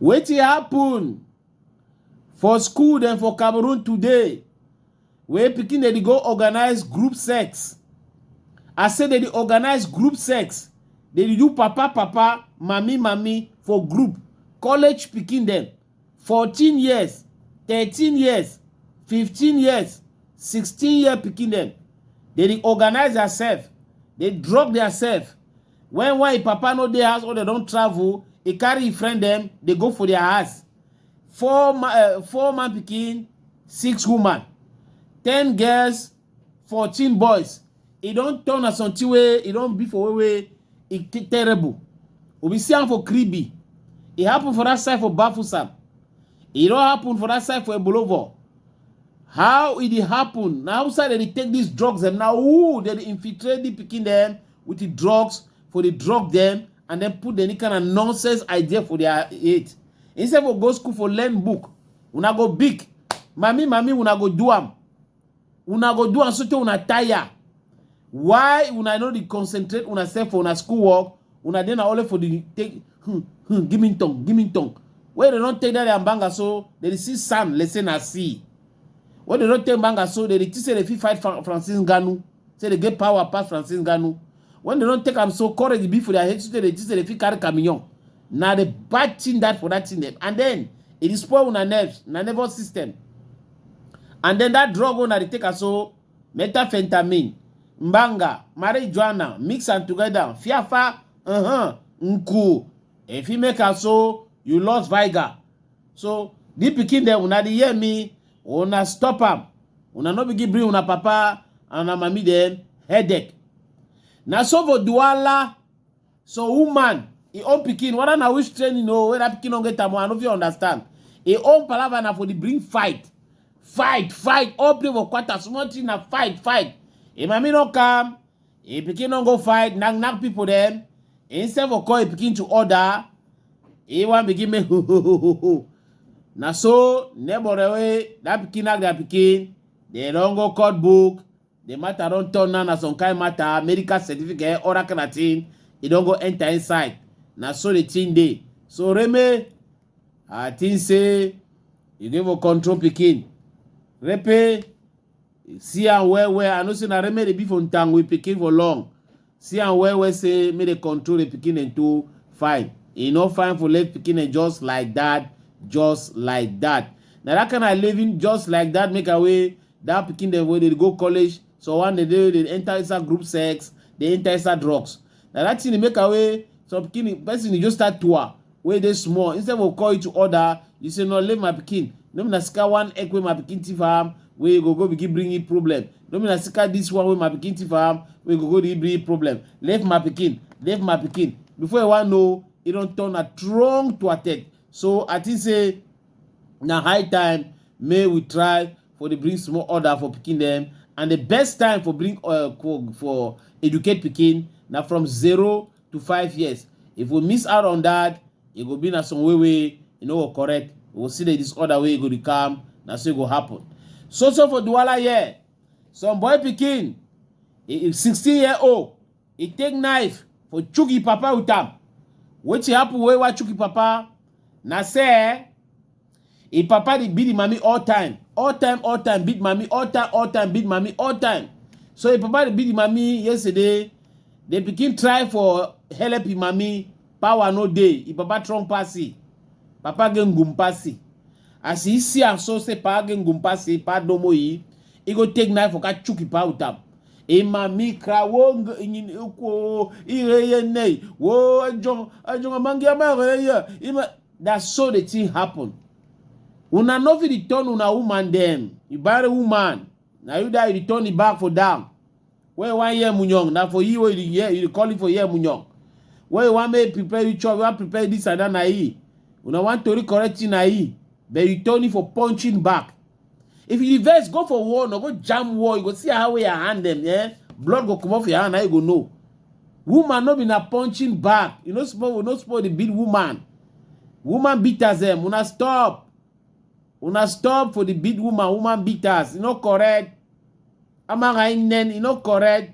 wetin happen for school dem for cameroon today wey pikin dem dey go organize group sex i say dem dey organize group sex dem dey do papa papa mami mami for group college pikin dem 14 years 13 years 15 years 16 year pikin dem dem dey organize theirself dey drug theirself When why papa no dey house or dem don travel, e carry e friend dem dey go for their house. Four ma uh, four man pikin, six woman, ten girls, fourteen boys. E don turn as something wey e don be for wey wey e terrible. We be see am for Kribi. E happen for that side for Bafusam. E don happen for that side for Ebolovo. How e dey happen? Na outside dem dey take these drugs dem. Na who dem dey infiltrate the pikin dem with the drugs for the drug them and then put any kind of nonsense idea for their head instead for go school for learn book una go big mami mami una go do am una go do am so tey una tire why una no dey concentrate una sef for una school work una dey na only for the take hmm, hmm, give me tongue give me tongue wey dem don take that their banga so dem dey see sand let's say na sea wey dem don take banga so dem dey think say dem fit fight Fra- francis ngannou Say they get power pass Francis Ngannou. When they don't take am so courage be for their head, so they think say they fit carry Camignon. Now the bad thing that for that thing them. And then it is spoil una nerves, na nervous system. And then that drug una dey take am so methamphetamine, mbanga, marijuana, mix am together, fiafa, uh-huh, nku. If you make am so, you lost vigor. So the pikin dem una dey hear me, una stop am una no begin bring una papa and una mami dem headache na so for duala so woman e own pikin whether na which training o whether pikin no get am i no fit understand e own palava na for the bring fight fight fight all play for quarter small thing na fight fight e mami no come Him pikin no go fight, knack knack people dem. Instead for call him pikin to order, he wan begin make ho ho ho ho ho. Na so neighbor dem wey that pikin knack their pikin, dem don go court book. The matter don turn now na some kind matter, medical certificate, all that kind of thing. E don go enter inside. Na so the thing dey. So Reme, I think say you dey for control pikin. Repe, See am well well. I know say na remedy be for ntang with pikin for long. See am well well say make dey control the pikin and to fine. E no fine for left pikin and just like that, just like that. Na that kind of living just like that make away that pikin dem wey dey go college. So one day they, they enter inside group sex, they enter inside drugs. na that thing dey make am wey some pikin person dey just start tour wey dey small instead of call you to order you say no leave my pikin no be na sika one egg wey my pikin thief am wey go go begin bring you problem no be na sika this one wey my pikin thief am wey go go dey bring you problem leave my pikin leave my pikin before you wan know e don turn na strong to attend so i think say na high time make we try for dey bring small order for pikin dem and the best time for bring uh, for educate pikin na from zero to five years if we miss out on that e go be na some way wey e no go correct we go see the disorder wey e go dey come na so e go happen so so for duwala here some boy pikin e sixteen year old e take knife for chook e papa with am wetin happen wey wa chook e papa na say Im papa dey beat im mami all time, all time, all time, beat mami all time, all time, beat mami all time. So im papa dey beat im mami yesterday, the pikin try for help im mami, power no dey, im papa strong pass im, papa get ngum pass im. As e see am so say papa get ngum pass im, papa domo im, e go take knife waka chook im papa with am. Im mami cry wo ngo nyin ekwo, ire ye nei, wo ejon, ejon amangi ama ire ye. Im ma- Na so the thing happen. Una no fit return una woman dem. You buy a woman, na you that you return the bag for down. Where you wan hear munyong, na for you wey you hear, you calling for hear munyong. Where you wan make prepare you chop, you wan prepare this and that na e. Una wan tori correct thing na e. But you turn it for punching back. if you vex go for war no go jam war you go see how your hand them. yeah blood go come off your hand now you go know woman no be na punching bag you no suppose no suppose dey beat woman woman beaters dem eh, una stop una stop for the beat woman woman beaters e no correct amaghị nne e no correct